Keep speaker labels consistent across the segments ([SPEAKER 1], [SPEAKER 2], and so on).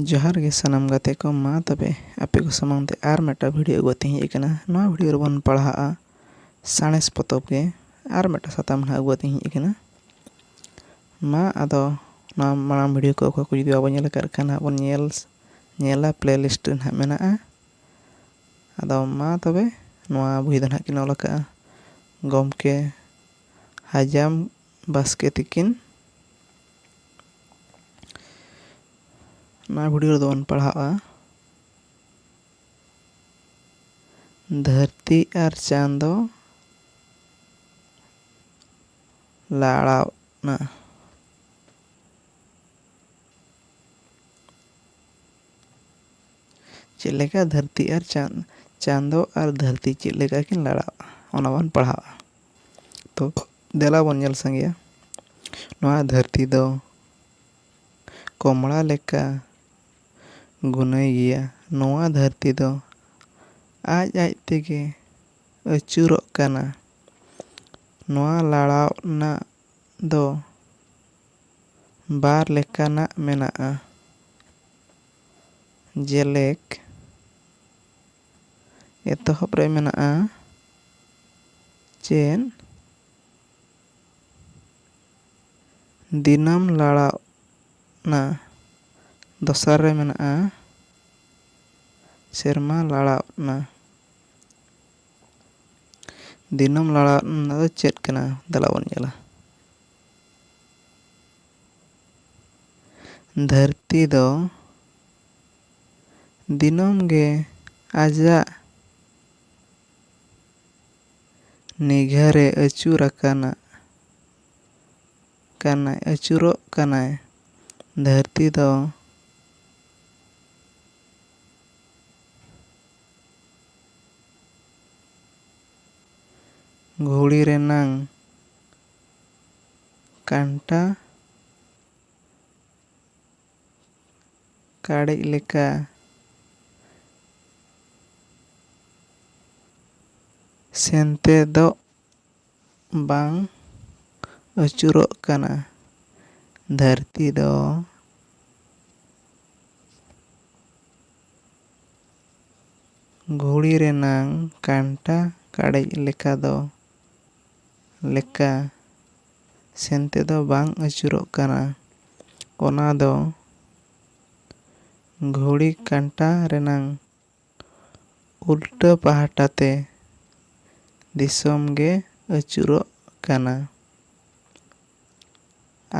[SPEAKER 1] ᱡᱚᱦᱟᱨ ᱜᱮ ᱥᱟᱱᱟᱢ ᱜᱟᱛᱮ ᱠᱚ ᱢᱟ ᱛᱚᱵᱮ ᱟᱯᱮ ᱠᱚ ᱥᱟᱢᱟᱝ ᱛᱮ ᱟᱨ ᱢᱤᱫᱴᱟᱝ ᱵᱷᱤᱰᱤᱭᱳ ᱟᱹᱜᱩ ᱠᱟᱛᱮᱧ ᱦᱮᱡ ᱟᱠᱟᱱᱟ ᱱᱚᱣᱟ ᱵᱷᱤᱰᱤᱭᱳ ᱨᱮᱵᱚᱱ ᱯᱟᱲᱦᱟᱜᱼᱟ ᱥᱟᱬᱮᱥ ᱯᱚᱛᱚᱵ ᱜᱮ ᱟᱨ ᱢᱤᱫᱴᱟᱝ ᱥᱟᱛᱟᱢ ᱱᱟᱦᱟᱜ ᱟᱹᱜᱩ ᱠᱟᱛᱮᱧ ᱦᱮᱡ ᱟᱠᱟᱱᱟ ᱢᱟ ᱟᱫᱚ ᱱᱚᱣᱟ ᱢᱟᱲᱟᱝ ᱵᱷᱤᱰᱤᱭᱳ ᱠᱚ ᱚᱠᱚᱭ ᱠᱚ ᱡᱩᱫᱤ ᱵᱟᱵᱚᱱ ᱧᱮᱞ ᱟᱠᱟᱫ ᱠᱷᱟᱱ ᱱᱟᱦᱟᱜ ᱵᱚᱱ ᱧᱮᱞ ᱧᱮᱞᱟ ᱯᱞᱮ ᱞᱤᱥᱴ ᱨᱮ ᱱᱟᱦᱟᱜ ᱢᱮᱱᱟᱜᱼᱟ ᱟᱫᱚ ᱢᱟ ᱛᱚᱵᱮ ᱱᱚᱣᱟ ᱵᱳᱭ ᱫᱚ ᱱᱟᱦᱟᱜ ᱠᱤᱱ ᱚᱞ ᱟᱠᱟᱫᱼᱟ ᱜᱚᱢᱠᱮ ᱦᱟᱡᱟᱢ ᱵᱟᱥᱠᱮ ᱛᱤᱠᱤᱱ ᱱᱚᱣᱟ ᱵᱷᱤᱰᱤᱭᱳ ᱨᱮᱫᱚ ᱵᱚᱱ ᱯᱟᱲᱦᱟᱜᱼᱟ ᱫᱷᱟᱹᱨᱛᱤ ᱟᱨ ᱪᱟᱸᱫᱚ ᱞᱟᱲᱟᱣ ᱱᱟ ᱪᱮᱫ ᱞᱮᱠᱟ ᱫᱷᱟᱹᱨᱛᱤ ᱟᱨ ᱪᱟᱸᱫᱚ ᱟᱨ ᱫᱷᱟᱹᱨᱛᱤ ᱪᱮᱫ ᱞᱮᱠᱟ ᱠᱤᱱ ᱞᱟᱲᱟᱜᱼᱟ ᱚᱱᱟ ᱵᱚᱱ ᱯᱟᱲᱦᱟᱜᱼᱟ ᱛᱚ ᱫᱮᱞᱟ ᱵᱚᱱ ᱧᱮᱞ ᱥᱟᱸᱜᱮᱭᱟ ᱱᱚᱣᱟ ᱫᱷᱟᱹᱨᱛᱤ ᱫᱚ ᱠᱚᱢᱲᱟ ᱞᱮᱠᱟ ᱜᱩᱱᱟᱹᱭ ᱜᱮᱭᱟ ᱱᱚᱣᱟ ᱫᱷᱟᱹᱨᱛᱤ ᱫᱚ ᱟᱡ ᱟᱡ ᱛᱮᱜᱮ ᱟᱹᱪᱩᱨᱚᱜ ᱠᱟᱱᱟ ᱱᱚᱣᱟ ᱞᱟᱲᱟᱣ ᱨᱮᱱᱟᱜ ᱫᱚ ᱵᱟᱨ ᱞᱮᱠᱟᱱᱟᱜ ᱢᱮᱱᱟᱜᱼᱟ ᱡᱮᱞᱮᱠ ᱮᱛᱚᱦᱚᱵ ᱨᱮ ᱢᱮᱱᱟᱜᱼᱟ ᱪᱮᱫ ᱫᱤᱱᱟᱹᱢ ᱞᱟᱲᱟᱣ ᱱᱟ ᱫᱚᱥᱟᱨ ᱨᱮ ᱢᱮᱱᱟᱜᱼᱟ ᱥᱮᱨᱢᱟ ᱞᱟᱲᱟᱣ ᱱᱟ ᱫᱤᱱᱟᱹᱢ ᱞᱟᱲᱟᱣ ᱱᱟ ᱫᱚ ᱪᱮᱫ ᱠᱟᱱᱟ ᱫᱮᱞᱟ ᱵᱚᱱ ᱧᱮᱞᱟ ᱫᱷᱟᱹᱨᱛᱤ ᱫᱚ ᱫᱤᱱᱚᱢ ᱜᱮ ᱟᱡᱟᱜ ᱱᱤᱜᱷᱟᱨᱮ ᱟᱹᱪᱩᱨ ᱟᱠᱟᱱᱟ ᱠᱟᱱᱟᱭ ᱟᱹᱪᱩᱨᱚᱜ ᱠᱟᱱᱟᱭ ᱫᱷᱟᱹᱨᱛᱤ ᱫᱚ ᱜᱷᱩᱲᱤ ᱨᱮᱱᱟᱝ ᱠᱟᱱᱴᱟ ᱠᱟᱲᱮᱡ ᱞᱮᱠᱟ᱾ ᱥᱮᱱᱛᱮᱫᱚᱜ ᱵᱟᱝ ᱟᱹᱪᱩᱨᱚᱜ ᱠᱟᱱᱟ᱾ ᱫᱷᱟᱹᱨᱛᱤ ᱫᱚ ᱜᱷᱩᱲᱤ ᱨᱮᱱᱟᱝ ᱠᱟᱱᱴᱟ ᱠᱟᱲᱮᱡ ᱞᱮᱠᱟ ᱫᱚ ᱞᱮᱠᱟ᱾ ᱥᱮᱱ ᱛᱮᱫᱚ ᱵᱟᱝ ᱟᱹᱪᱩᱨᱚᱜ ᱠᱟᱱᱟ᱾ ᱚᱱᱟ ᱫᱚ ᱜᱷᱩᱲᱤ ᱠᱟᱸᱴᱟ ᱨᱮᱱᱟᱝ ᱩᱞᱴᱟᱹ ᱯᱟᱦᱴᱟ ᱛᱮ ᱫᱤᱥᱚᱢ ᱜᱮ ᱟᱹᱪᱩᱨᱚᱜ ᱠᱟᱱᱟ᱾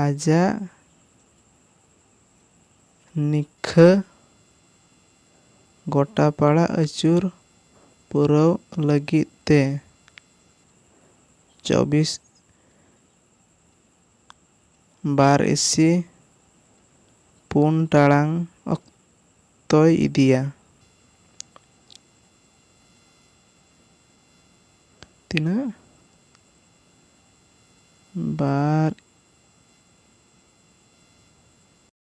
[SPEAKER 1] ᱟᱡᱟᱜ ᱱᱤᱠᱷᱟᱹ ᱜᱚᱴᱟᱯᱟᱲᱟ ᱟᱹᱪᱩᱨ ᱯᱩᱨᱟᱹᱣᱜ ᱞᱟᱹᱜᱤᱫ ᱛᱮ ᱪᱚᱵᱵᱤᱥ ᱵᱟᱨ ᱤᱥᱤ ᱯᱩᱱ ᱴᱟᱲᱟᱝ ᱚᱠᱛᱚᱭ ᱤᱫᱤᱭᱟ᱾ ᱛᱤᱱᱟᱹᱜ? ᱵᱟᱨ᱾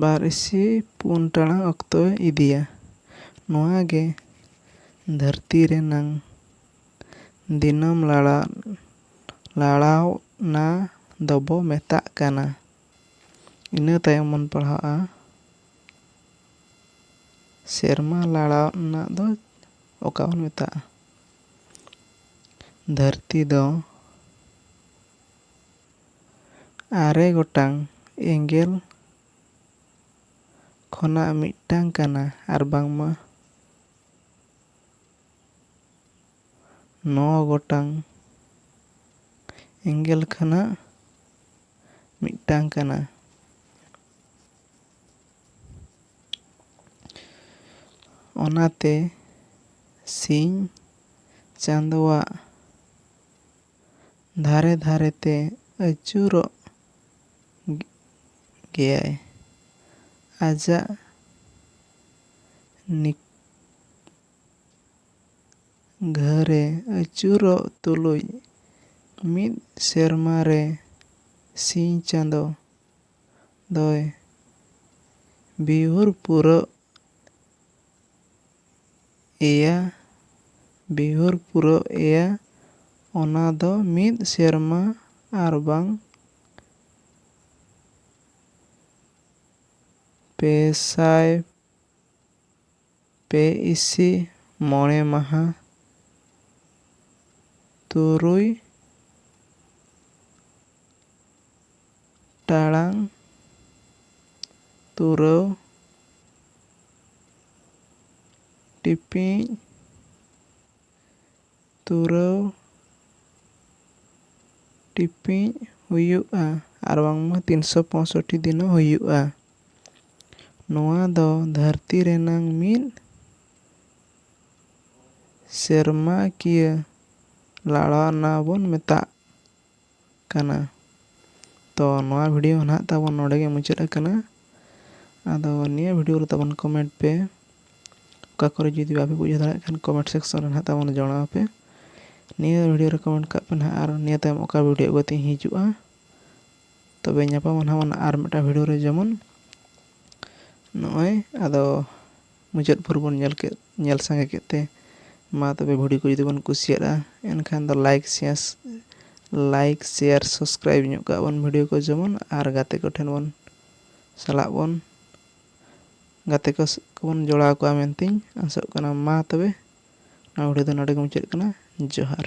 [SPEAKER 1] ᱵᱟᱨ ᱤᱥᱤ ᱯᱩᱱ ᱴᱟᱲᱟᱝ ᱚᱠᱛᱚᱭ ᱤᱫᱤᱭᱟ ᱱᱚᱣᱟ ᱜᱮ ᱫᱷᱟᱹᱨᱛᱤ ᱨᱮᱱᱟᱝ ᱫᱤᱱᱟᱹᱢ ᱞᱟᱲᱟᱜ ᱞᱟᱲᱟᱣᱱᱟ ᱫᱚᱵᱚ ᱢᱮᱛᱟᱜ ᱠᱟᱱᱟ ᱤᱱᱟᱹ ᱛᱟᱭᱚᱢ ᱵᱚᱱ ᱯᱟᱲᱦᱟᱜᱼᱟ ᱥᱮᱨᱢᱟ ᱞᱟᱲᱟᱜ ᱨᱮᱱᱟᱜ ᱫᱚ ᱚᱠᱟ ᱵᱚᱱ ᱢᱮᱛᱟᱜᱼᱟ ᱫᱷᱟᱹᱨᱛᱤ ᱫᱚ ᱟᱨᱮ ᱜᱚᱴᱟᱝ ᱮᱸᱜᱮᱞ ᱠᱷᱚᱱᱟᱜ ᱢᱤᱫᱴᱟᱝ ᱠᱟᱱᱟ ᱟᱨ ᱵᱟᱝᱢᱟ ᱱᱚ ᱜᱚᱴᱟᱝ ᱮᱸᱜᱮᱞ ᱠᱷᱚᱱᱟᱜ ᱢᱤᱫᱴᱟᱝ ᱠᱟᱱᱟ᱾ ᱚᱱᱟᱛᱮ ᱥᱤᱧ ᱪᱟᱸᱫᱚᱣᱟᱜ᱾ ᱫᱷᱟᱨᱮ ᱫᱷᱟᱨᱮ ᱛᱮ ᱟᱹᱪᱩᱨᱚᱜ ᱜᱮᱭᱟᱭ᱾ ᱟᱡᱟᱜ ᱱᱤᱜᱷᱟᱹᱨᱮ ᱟᱹᱪᱩᱨᱚᱜ ᱛᱩᱞᱩᱡ ᱢᱤᱫ ᱥᱮᱨᱢᱟ ᱨᱮ ᱥᱤᱧ ᱪᱟᱸᱫᱚ ᱫᱚᱭ ᱵᱤᱦᱩᱨ ᱯᱩᱨᱟᱹᱣ ᱮᱭᱟ ᱵᱤᱦᱩᱨ ᱯᱩᱨᱟᱹᱣ ᱮᱭᱟ ᱚᱱᱟ ᱫᱚ ᱢᱤᱫ ᱥᱮᱨᱢᱟ ᱟᱨᱵᱟᱝ ᱯᱮ ᱥᱟᱭ ᱯᱮ ᱤᱥᱤ ᱢᱚᱬᱮ ᱢᱟᱦᱟ ᱛᱩᱨᱩᱭ ᱴᱟᱲᱟᱝ ᱛᱩᱨᱟᱹᱣ ᱴᱤᱯᱤᱡ ᱛᱩᱨᱟᱹᱣ ᱴᱤᱯᱤᱡ ᱦᱩᱭᱩᱜᱼᱟ ᱟᱨ ᱵᱟᱝᱢᱟ ᱛᱤᱱ ᱥᱚ ᱯᱚᱸᱭᱥᱚᱴᱴᱤ ᱫᱤᱱ ᱦᱚᱸ ᱦᱩᱭᱩᱜᱼᱟ ᱱᱚᱣᱟ ᱫᱚ ᱫᱷᱟᱹᱨᱛᱤ ᱨᱮᱱᱟᱝ ᱢᱤᱫ ᱥᱮᱨᱢᱟᱠᱤᱭᱟᱹ ᱞᱟᱲᱟᱣᱱᱟ ᱵᱚᱱ ᱢᱮᱛᱟᱜᱼᱟ ᱠᱟᱱᱟ᱾ ᱛᱚ ᱱᱚᱣᱟ ᱵᱷᱤᱰᱤᱭᱳ ᱦᱚᱸ ᱱᱟᱦᱟᱜ ᱛᱟᱵᱚᱱ ᱱᱚᱰᱮ ᱜᱮ ᱢᱩᱪᱟᱹᱫ ᱟᱠᱟᱱᱟ᱾ ᱟᱫᱚ ᱱᱤᱭᱟᱹ ᱵᱷᱤᱰᱤᱭᱳ ᱨᱮ ᱛᱟᱵᱚᱱ ᱠᱚᱢᱮᱱᱴ ᱯᱮ᱾ ᱚᱠᱟ ᱠᱚᱨᱮ ᱡᱩᱫᱤ ᱵᱟᱯᱮ ᱵᱩᱡᱷᱟᱹᱣ ᱫᱟᱲᱮᱭᱟᱜ ᱠᱷᱟᱱ ᱠᱚᱢᱮᱱᱴ ᱥᱮᱠᱥᱚᱱ ᱨᱮ ᱱᱟᱦᱟᱜ ᱛᱟᱵᱚᱱ ᱡᱚᱬᱟᱣ ᱯᱮ᱾ ᱱᱤᱭᱟᱹ ᱵᱷᱤᱰᱤᱭᱳ ᱨᱮ ᱠᱚᱢᱮᱱᱴ ᱠᱟᱜ ᱯᱮ ᱱᱟᱦᱟᱜ ᱟᱨ ᱱᱤᱭᱟᱹ ᱛᱟᱭᱚᱢ ᱚᱠᱟ ᱵᱷᱤᱰᱤᱭᱳ ᱟᱹᱜᱩ ᱠᱟᱛᱮ ᱤᱧ ᱦᱤᱡᱩᱜᱼᱟ᱾ ᱛᱚᱵᱮ ᱧᱟᱯᱟᱢᱟ ᱱᱟᱦᱟᱜ ᱵᱚᱱ ᱟᱨ ᱢᱤᱫᱴᱟᱝ ᱵᱷᱤᱰᱤᱭᱳ ᱨᱮ ᱡᱮᱢᱚᱱ ᱱᱚᱜᱼᱚᱭ ᱟᱫᱚ᱾ ᱢᱩᱪᱟᱹᱫ ᱵᱷᱳᱨ ᱵᱚᱱ ᱧᱮᱞ ᱠᱮᱫ ᱧᱮᱞ ᱥᱟᱸᱜᱮ ᱠᱮᱫ ᱛᱮ ᱢᱟ ᱛᱚᱵᱮ ᱵᱷᱤᱰᱤᱭᱳ ᱠᱚ ᱡᱩᱫᱤ ᱵᱚᱱ ᱠᱩᱥᱤᱭᱟᱫᱼᱟ ᱮᱱᱠᱷᱟᱱ ᱫᱚ like share like share subscribe ᱧᱚᱜ ᱠᱟᱜ ᱵᱚᱱ ᱵᱷᱤᱰᱤᱭᱳ ᱠᱚ ᱡᱮᱢᱚᱱ ᱟᱨ ᱜᱟᱛᱮ ᱠᱚᱴᱷᱮᱱ ᱵᱚᱱ ᱥᱟᱞᱟᱜ ᱵᱚᱱ ᱜᱟᱛᱮ ᱠᱚ ᱠᱚᱵᱚᱱ ᱡᱚᱲᱟᱣ ᱠᱚᱣᱟ ᱢᱮᱱᱛᱮᱧ ᱟᱥᱚᱜ ᱠᱟᱱᱟ ᱢᱟ ᱛᱚᱵᱮ ᱱᱚᱣᱟ ᱵᱷᱤᱰᱤᱭᱳ ᱫᱚ ᱱᱚᱰᱮ ᱜᱮ ᱢᱩᱪᱟᱹᱫ ᱠᱟᱱᱟ ᱡᱚᱦᱟᱨ